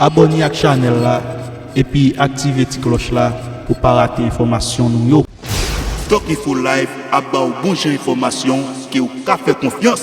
Abòne ak chanèl la epi aktive ti klòch la pou pa rate enfòmasyon nou yo. Doc Info Live ap ba w bon jan enfòmasyon ke w ka fè konfyans.